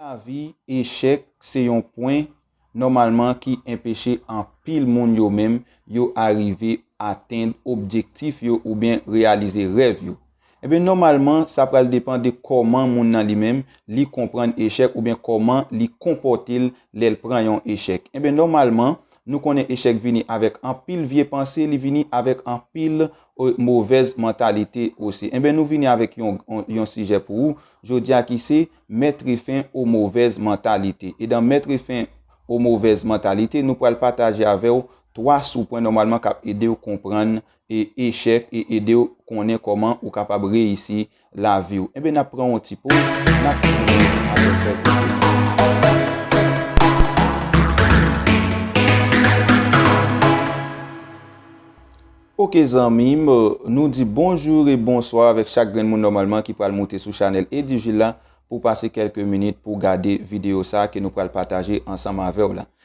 Nan lavi, echèk se yon pwen, nòmalman, ki enpeche anpil moun yo menm yo arive atenn objektif yo oubyen reyalize rèv yo. Enben, nòmalman, sa pral depan de kòman moun nan li menm, li konprann echèk oubyen kòman li konpòte l lè l pran yon echèk. Enben, nòmalman, nou konnen echèk vini avèk anpil vye panse, li vini avèk anpil Movèz mantalite osi. Enben nou vini avèk yon sijè pou ou jodi a ki se, Mètre fen o movèz mantalite. E dan Mètre fen o movèz mantalite, nou pral pataje avè w 3 sou pwen nòmalman k ap ede w konprann echèk e ede w konnen kòman ou kapab reyisi lavi w. Enben n ap pran yon ti poz, n ap tounen apre kèk minit. Ok zanmi m, nou di bonjou e bonswa avèk chak grenn moun nòmalman ki pral moute sou chanèl Edivil la pou pase kèlke minit pou gade videyo sa ke nou pral pataje ansanm avè w la.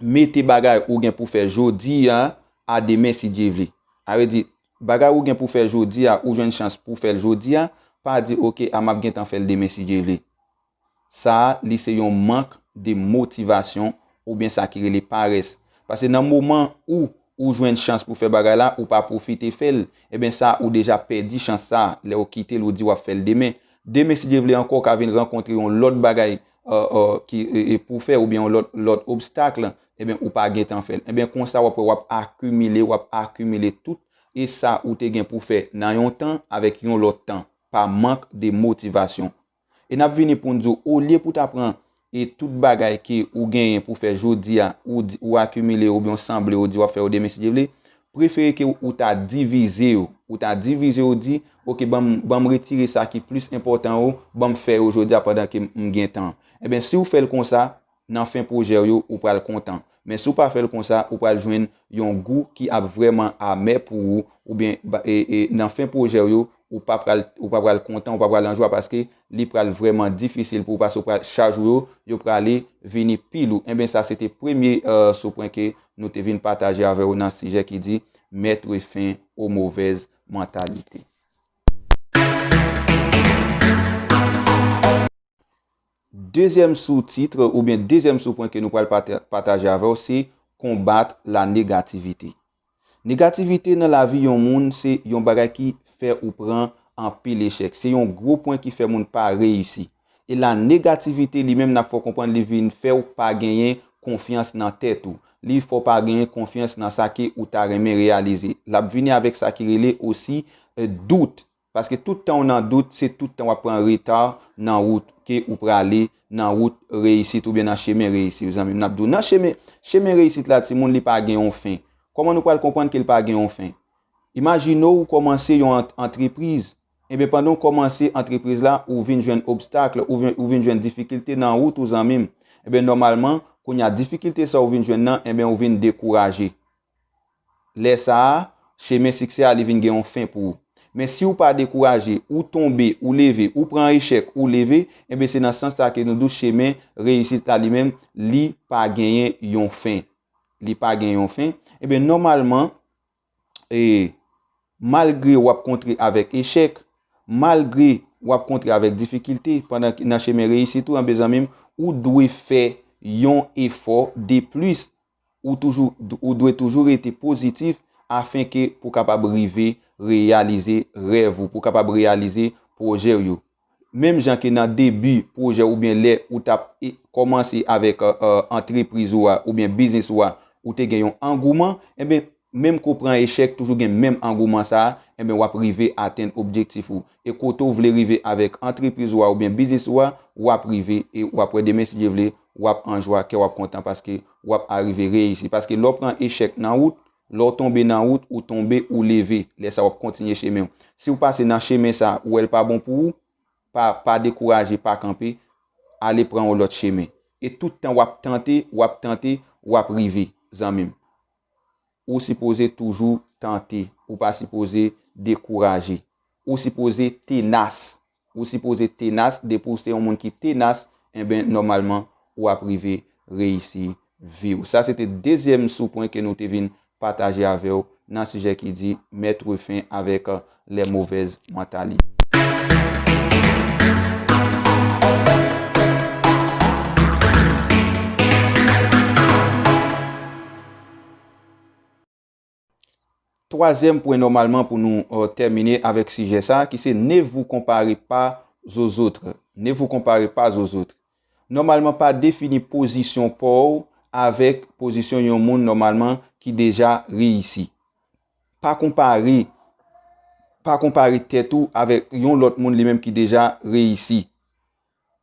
mete bagay ou gen pou fè jodi a a demen si Dye vle. A vle di, bagay ou gen pou fè jodi a, ou jwenn chans pou fè l jodi a, pa di ok a map gentan fè l demen si Dye vle. Sa a li se yon mank de motivasyon oubyen sa ki rele parès. Pase nan moman ou ou jwenn chans pou fè bagay la ou pa pwofite fè l, eben sa ou deja pèdi chans sa a lè ou kite l ou di wap fè l demen. Demen si Dye vle ankò ou ka vin rankontre yon lòt bagay ki pou fè oubyen yon lòt obstacle ebyen ou pa gentan fèl ebyen konsa wap wè wap akimile wap akimile tout e sa ou te gen pou fè nan yon tan avèk yon lòt tan pa mank de motivasyon e nap vini poun di w olye pou ta pran e tout bagay ke ou genyen pou fè jodi a ou akimile oubyen w sanble ou di wap fè ou demen si Dye vle prefere ke ou ta divize yo, ou ta divize yo di, ok banm banm retire sa ki plis enpòtan yo, banm fè yo jodi a pandan ke m gen tan. Enben si ou fè l konsa, nan fen pwojè w yo, ou pral kontan. Men si ou pa fè l konsa, ou pral jwenn yon gou ki ap vrèman amè pou ou, oubyen nan fen pwojè w yo, Ou pa pral ou pa pral kontan ou pa pral anjwa paske li pral vrèman difisil pou ou paske ou pral chaj ou yo yo prale vini pi lou enben sa se te premye sou pwen ke nou te vin pataje avè ou nan sijè ki di mettre fin aux mauvaises mentalités. Dezyèm sou titre oubyen dezyèm sou pwen ke nou pral pataje avè ou se combattre la négativité Negativite nan lavi yon moun se yon bagay ki fè ou pran anpil echèk. Se yon gwo pwen ki fè moun pa reyisi. E la negativite li menm nap fè w konprann li vin fè w pa genyen konfyans nan tèt ou. Li fè w pa genyen konfyans nan sa ke ou ta renmen reyalize. Lap vini avèk sa ki rele osi dout. Paske tout tan ou nan dout, se tout tan wap pran reta nan wout ke ou prale, nan wout reyisit oubyen nan chemen reyisi w zanmim. Nap di w nan chemen, chemen reyisit la timoun li pa gen yon fen. Kòman nou pral konprann ke l pa gen yon fen? Imajine w ou kòmanse yon antrepriz, enben pandan w kòmanse antrepriz la ou vin jwenn obstakl, ou vin jwenn difikilte nan wout ou zanmim, enben nòmalman kounya difikilte sa ou vin jwenn nan enben ou vin dekouraje. Lè sa a, chemen siksè a li vin gen yon fen pou ou. Men si ou pa dekouraje, ou tonbe, ou leve, ou pran echèk, ou leve, enben se nan sans sa ke nou di w chemen reyisit la li menm, li pa genyen yon fen. Li pa gen yon fen. Enben nòmalman, e, malgre w ap kontre avèk echèk, malgre w ap kontre avèk difikilte pandan nan chemen reyisit ou, enben zanmi m, ou dwe fè yon efò deplis Ou toujou ou dwe toujou rete pozitif afen ke pou kapab rive reyalize rèv ou, pou kapab reyalize pwojè ou yo. Menm jan ke nan debi pwojè ou byen lè ou tap e kòmanse avèk antrepriz ou a oubyen biznis ou a ou te gen yon angouman, enben Menm ke w pran echèk, toujou gen menm angouman sa a, enben w ap rive atenn objektif ou. E kote w vle rive avèk antrepriz ou a oubyen biznis ou a, w ap rive e w ap wè demen si Dye vle, w ap an jwa, kè w ap kontan paske w ap arive reyisi. Paske lè w pran echèk nan wout, lè w tonbe nan wout, ou tonbe, ou leve, lè sa w ap kontinye chemen w. Si w pase nan chemen sa a, ou wè l pa bon pou ou, pa pa dekouraje, pa kanpe, ale pran yon lòt chemen. E tout tan w ap tante, w ap tante, w ap rive, zanmi m. Ou sipoze toujou tante. Ou pa sipoze dekouraje. Ou sipoze tenas. Ou sipoze tenas, depi ou se yon moun ki tenas, enben nòmalman ou ap rive reyisi vi w. Sa se te dezyèm sou pwen ke nou te vin pataje avè w nan sijè ki di, Mettre fin avec lè movèz mantalite. Twazyèm pwen nòmalman pou nou tèmine avèk sijè sa ki se ne vous comparez pas aux autres, ne vous comparez pas aux autres. Nòmalman pa defini pozisyon pa w avèk pozisyon yon moun nòmalman ki deja reyisi. Pa konpare, pa konpare tèt ou avèk yon lòt moun li menm ki deja reyisi.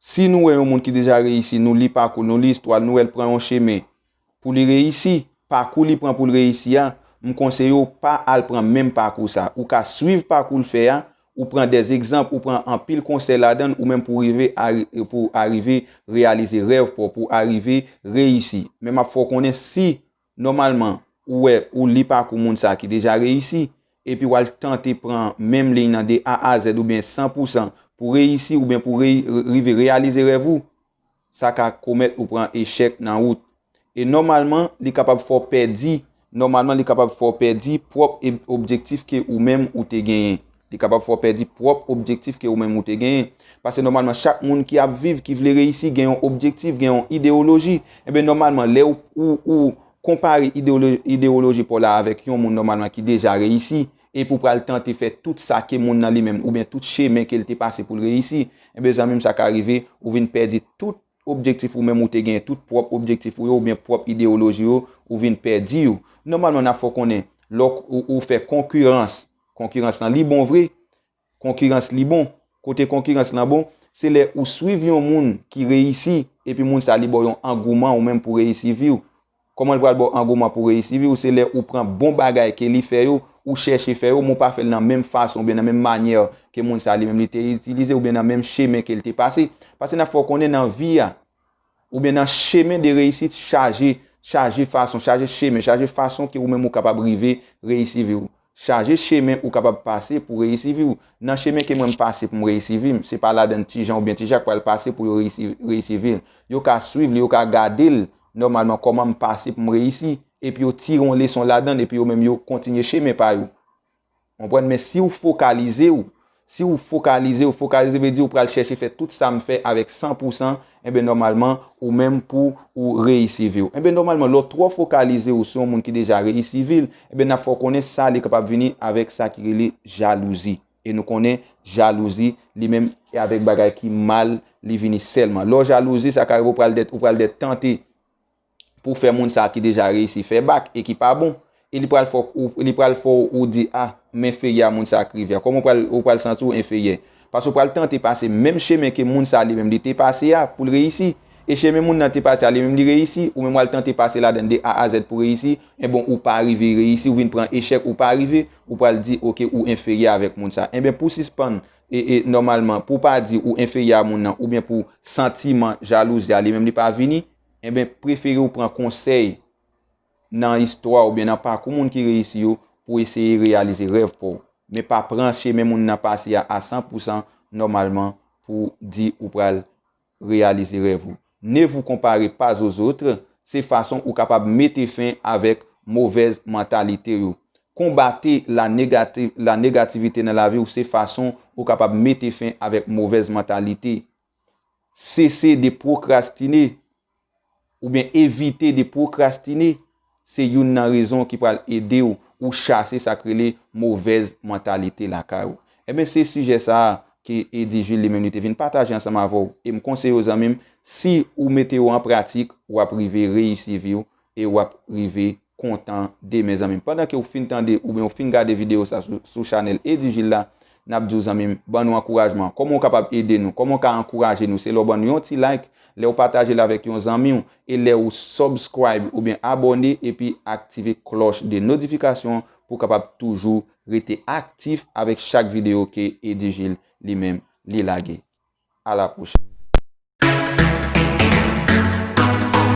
Si nou wè yon moun ki deja reyisi, nou li pakou l, nou li istwa l, nou wè l pran yon chemen pou li reyisi, pakou li pran pou l reyisi a, m konseye w pa al pran menm pakou sa. Ou ka swiv pakou l fè a, ou pran dè egzanp, ou pran anpil konsèy ladan l ou menm pou rive pou arive reyalize rèv pa w, pou arive reyisi. Men m ap fè w konnen si Nòmalman, ou wè ou li pakou moun sa ki deja reyisi, epi w al tante pran menm liy nan de A a Zèd oubyen san pou san pou reyisi oubyen pou rive reyalize rèv ou, sa ka komèt ou pran echèk nan wout. E nòmalman, li kapab fè w pèdi, nòmalman li kapab fè w pèdi pwòp objektif ke ou menm ou te genyen. Li kapab fè w pèdi pwòp objektif ke ou menm ou te genyen. Pase nòmalman chak moun ki ap viv, ki vle reyisi gen yon objektif, gen yon idewoloji. Enben nòmalman lè ou ou konpare idewoloji pa w la avèk yon moun nòmalman ki deja reyisi, epi ou pral tante fè tout sa ke moun nan li menm oubyen tout chemen ke l te pase pou l reyisi, enben zanmi m sa ka rive ou vin pèdi tout objektif ou menm ou te genyen, tout pwòp objektif ou yo oubyen pwòp idewoloji ou yo, ou vin pèdi yo. Nòmalman n ap fè w konnen lè ou fè konkiranse, Konkirans lan li bon vre, konkirans li bon, kote konkirans lan bon, se lè ou swiv yon moun ki reyisi epi moun sa li baw yon angouman ou menm pou reyisi viw. Kòman li pral baw angouman pou reyisi viw, se lè ou pran bon bagay ke li fè yo, ou chèche fè yo, men ou pa fèl nan menm fason oubyen nan menm manyè ke moun sa li menm li te itilize oubyen nan menm chemen kel te pase. Pase nap fè w konnen nan vi a, Oubyen nan chemen de reyisit chaje, chaje fason, chaje chemen, chaje fason ke ou menm ou kapab rive reyisi vi ou. Chaje chemen ou kapab pase pou reyisi vi ou. Nan chemen ke mwen m pase pou m reyisi vi m, se pa ladann ti Jan oubyen ti Jak pral pase pou yo reyisi, reyisi vi l. Yo ka swiv li, yo ka gade l nòmalman kòman m pase pou m reyisi, epi yo tire yon leson ladann epi yo menm yo kontinye chemen pa yo. Konprann men si ou fokalize ou, si ou fokalize ou, fokalize vle di ou pral chèche fè tout sa m fè avèk san pou san, enben nòmalman ou menm pou ou reyisi vi w. Enben nòmalman lè w twò fokalize ou sou yon moun ki deja reyisi vi l, enben n ap fè w konnen sa li kapab vini avèk sa ki rele jalouzi. E nou konnen jalouzi li menm e avèk bagay ki mal li vini sèlman. Lè w jalouzi sa ka rive ou pral dè ou pral dè tante. pou fè moun sa ki deja reyisi fè bak e ki pa bon e li pral fè w li pral fè w di ah m enferyè a moun sa k rive a kòman w pral ou pral santi w enferyè paske w pral tante pase menm chemen ke moun sa li menm li te pase a pou l reyisi e chemen moun nan te pase a li menm li reyisi ou menm w al tante pase ladan l de a a zèd pou reyisi enben ou pa rive reyisi ou vin pran echèk ou pa rive ou pral di ok ou enferyè avèk moun sa enben pou sispann e e nòmalman pou w pa di ou enferyè a moun nan oubyen pou santiman jalouzi a li menm li pa vini enben prefere ou pran konsèy nan istwa oubyen nan pakou moun ki reyisi yo pou eseye reyalize rèv pa w. Men pa pran chemen moun nan pase a a san pou san nòmalman pou di ou pral reyalize rèv ou. Ne vous comparez pas aux autres se fason ou kapab mete fen avèk movèz mantalite yo. Konbate la negativite nan lavi ou se fason ou kapab mete fen avèk movèz mantalite. Sese de pwokrastine oubyen evite de pwokrastine se youn nan rezon ki pral ede w ou chase sa k rele movèz mantalite lakay ou. Enben se sijè sa a ke Eddy Jules li menm li te vin pataje ansanm avè w e m konseye w zanmi m si ou mete yo an pratik w ap rive reyisi vi w e wap rive kontan demen zanmim pandan ke ou fin tande oubyen ou fin gade video sa sou chanèl Edujil la nap diw zanmim ban nou ankourajman kòman ou kapab ede nou kòman ou ka ankouraje nou se lè ou ban nou yon ti like lè ou patajel avèk yon zanmiw e lè ou subscribe oubyen abòne epi aktive klòch de nodifikasyon pou kapab toujou rete aktif avèk chak video ke Edujil li menm li lage a la pwochèn.